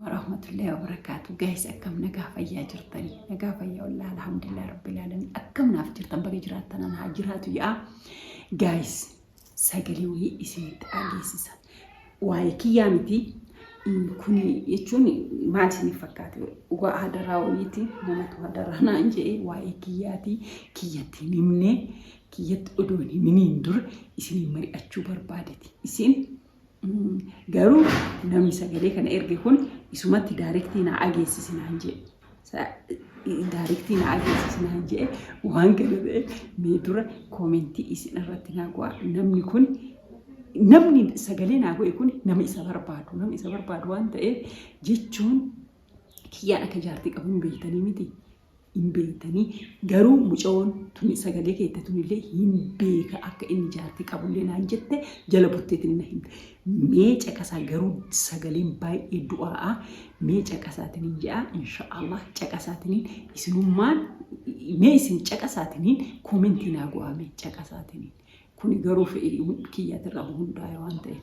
warahmatullahi wabarakatuh guys akkam nagaa fayyaa jirtanii nagaa fayyaa wallah alhamdulillah rabbil alamin akkam naaf jirtan baga jiraattan an haa jiraatu yaa guys sagalee wayii isinitti dhageessisa waa'ee kiyyaa miti kun jechuun maal isiniif fakkaate waa hadaraa wayiiti namatu hadaraa naan jedhee waa'ee kiyyaati kiyyatti hin himne kiyyatti odoo hin himiniin dura isin mari'achuu barbaadeti isin Garuu namni sagalee kana erge kun isumatti daarektii naa ageessisi naan jedhe. Daarektii naa ageessisi naan jedhe waan kana ta'e mee dura koomentii isin irratti naa go'a. Namni kun namni sagalee naa go'e kun nama isa barbaadu nama isa barbaadu waan ta'eef jechuun kiyyaan akka jaartii qabuun beektanii miti. hin beektanii garuu mucayoon tuni sagalee keette tunillee hin beeka akka inni jaartii qabullee naan jette jala bulteetiin na himte mee caqasaa garuu sagaleen baay'ee du'aa'a mee caqasaatiin ja'a inshaallah caqasaatiin isinummaan mee isin caqasaatiin koomentii naa go'aa mee caqasaatiin kuni garuu fedhii kiyyaatirraa hundaa'e waan ta'eef.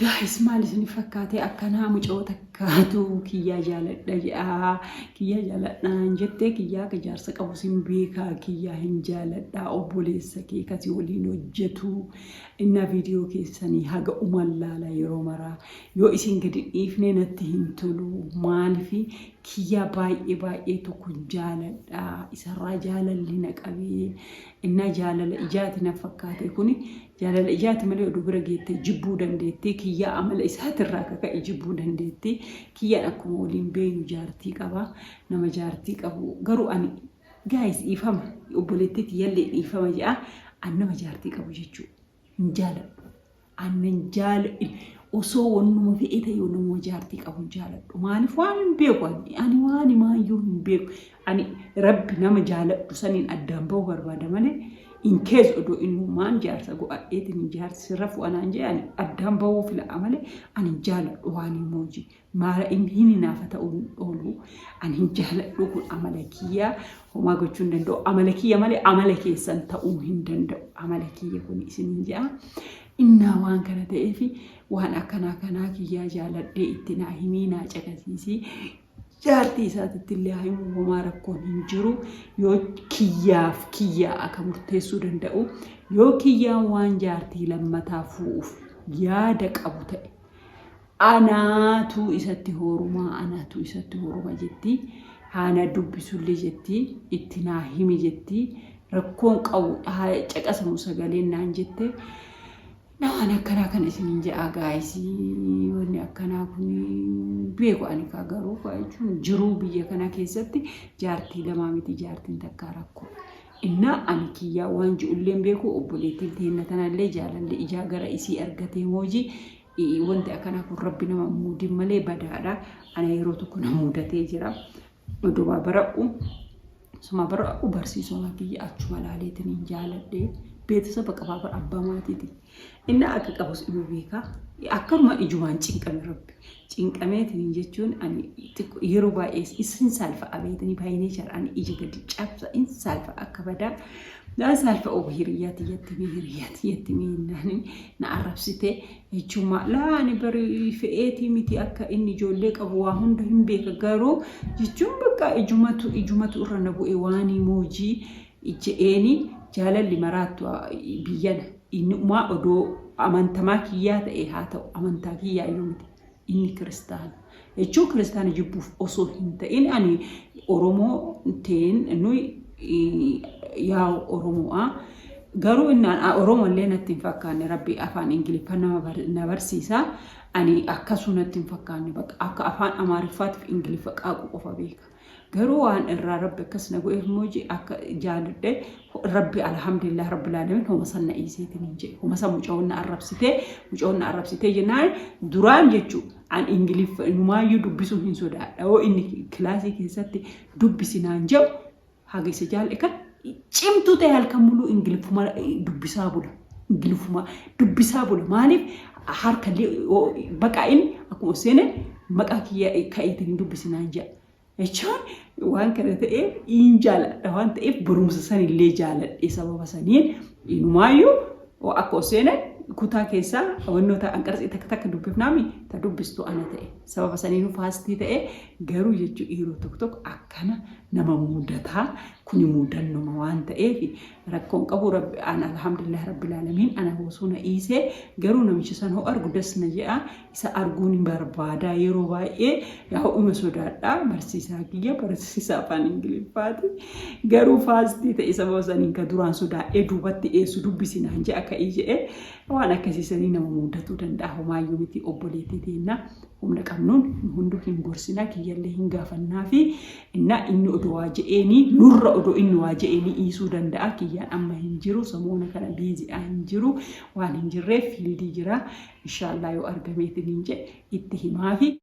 Gaayis maal isin fakkaatee akkanaa mucoo takkaatu kiyyaa jaaladha jedhaa kiyyaa jaaladhaan jettee kiyyaa akka jaarsa qabu sin beekaa kiyyaa hin jaaladhaa obboleessa kee kasi waliin hojjetu innaa viidiyoo keessanii haga uman laala yeroo maraa yoo isin gadi dhiifne natti hin tolu maalifi kiyyaa baay'ee baay'ee tokko jaaladha isarraa jaalalli na qabee innaa jaalala ijaati na fakkaate kuni Jaalala ijaati malee oduu bira geettee jibbuu dandeetti. Kiyyaa amala isaatirraa ka ka'e jibbuu dandeetti. Kiyyaan akkuma waliin beeynu jaartii qaba. Nama jaartii qabu garuu ani guys dhiifama obboleettii tiyyallee dhiifama je'a ani nama jaartii qabu jechuu hin jaaladhu. Ani nan jaala osoo wannuma fe'ee ta'e yoo namuma jaartii qabu hin jaaladhu. Maaliif waan hin beeku ani. Ani waan himaayyuu hin beeku. Ani rabbi nama jaaladhu saniin addaan bahu barbaada malee in case odoo innumaan jaarsa go'adheetiin jaarsi sirra fu'a naan je'e ani addaan bahuu fila'a malee ani hin jaaladhu waan hin mooji maara in hin hinaafa ta'uu hin oolu ani hin jaaladhu kun amala kiyya homaa gochuu hin danda'u amala kiyya malee amala keessan ta'uu hin danda'u amala kiyya kun isiniin je'a innaa waan kana ta'eefi waan akkanaa kanaa kiyyaa jaaladhee itti naa himii naa caqasiisii Jaartii isaatitti illee haa himu homaa rakkoon hin jiru. Yoo kiyyaaf kiyyaa akka murteessuu danda'u yoo kiyyaan waan jaartii lammataa fu'uuf yaada qabu ta'e anaatu isatti hoorumaa anaatu isatti hooruma jetti. Haana dubbisullee jetti itti naa himi jetti rakkoon qabu haa caqasamu sagaleen naan jette. Naa an akkanaa kana isinin jedhaa guys wanni akkanaa kun beeku ani kaa garuu kaa jechuun jiruu biyya kanaa keessatti jaartii lamaa miti jaartiin takkaa rakkoo. Innaa ani kiyyaa waan ji'ulleen beeku obboleettiin teenna tanallee jaalalle ijaa gara isii argatee mooji wanti akkanaa kun rabbi nama muudin malee badaadha ana yeroo tokko na muudatee jira Odumaa bara'u sumaa bara'u barsiisomaa kiyya achuma laaleetiin hin jaaladhee beetisaba qabaa bar abbaa maatiiti inni akka qabus ima beekaa akkanuma ijumaan cinqame rabbi cinqameetiin jechuun ani xiqqo yeroo baay'ee isin saalfa abeetini baay'inee jara ani ija gadi cabsa in saalfa akka badaa daa saalfa obu hiriyyaa tiyyatti mee hiriyyaa tiyyatti mee naani na arrabsitee Michummaa laa ani bari fe'eetii miti akka inni ijoollee qabu waa hunda hin beeka garuu jechuun bakka ijumatu ijumatu irra na bu'e waanii moojii je'eeni jaalalli maraattu biyyana inni umaa odoo amantamaa kiyyaa ta'e haa ta'u amantaa kiyyaa iyyuu miti. inni kiristaana. Jechuu kiristaana jibbuuf osoo hin ta'in ani Oromoo teen nuyi yaa Oromo'a. Garuu inni Oromoo illee natti hin fakkaanne rabbi afaan Ingiliffa nama na barsiisa. Ani akkasuu natti hin fakkaanne bakka akka afaan Amaariffaatiif Ingiliffa qaaqu qofa beeka. Garuu waan irraa rabbi akkas na go'eef mooji akka jaaludhe rabbi alhamdulillah rabbi laalamin homa san na iiseetiin hin jedhe homa san mucawoon na arrabsitee mucawoon na arrabsitee jennaan duraan jechuu an ingiliffa inumaayyuu dubbisuu hin sodaadha yoo inni kilaasii keessatti dubbisi naan jedhu haga isa jaal'e kan Cimtuu ta'e halkan muluu ingiliffuma dubbisaa bula. Ingiliffuma dubbisaa bula. Maaliif harkallee baqaa inni akkuma seene maqaa kiyya ka'iitiin hin dubbisinaan jedha. Jechuun waan kana ta'eef in jaaladha waan ta'eef barumsa san illee jaaladhe sababa saniin inumaayyuu akka seene kutaa keessaa wannoota anqarxii takka takka dubbifnaami ta dubbistu ana ta'e sababa saniin faastii ta'e garuu jechuu dhiiroo tokko tokko akkana nama mudataa Kuni muudannoma waan ta'eefi rakkoo hin qabu rabbi an alhamdulillah rabbil alamiin ana hoosuu na iisee garuu namicha san hoo argu das na je'a isa arguu ni barbaadaa yeroo baay'ee yaa'u ima sodaadha barsiisaa kiyya barsiisaa afaan ingiliffaati garuu faastii ta'e sababa saniin ka duraan sodaadhee duubatti dheessu dubbisi naan je'a ka'ii je'e waan akkasii sanii nama muudatuu danda'a homaayyuu miti obboleettii teenna humna qabnuun nu hunduu hin gorsina kiyyallee hin gaafannaa fi Innaa inni odoo waa je'eenii nurra odoo inni waa je'eenii dhiisuu danda'a kiyyaan amma hin jiru samoona kana busy dha hin jiru waan hin jirreef field jira inshaallaa yoo argameetiniin je'e itti himaafi.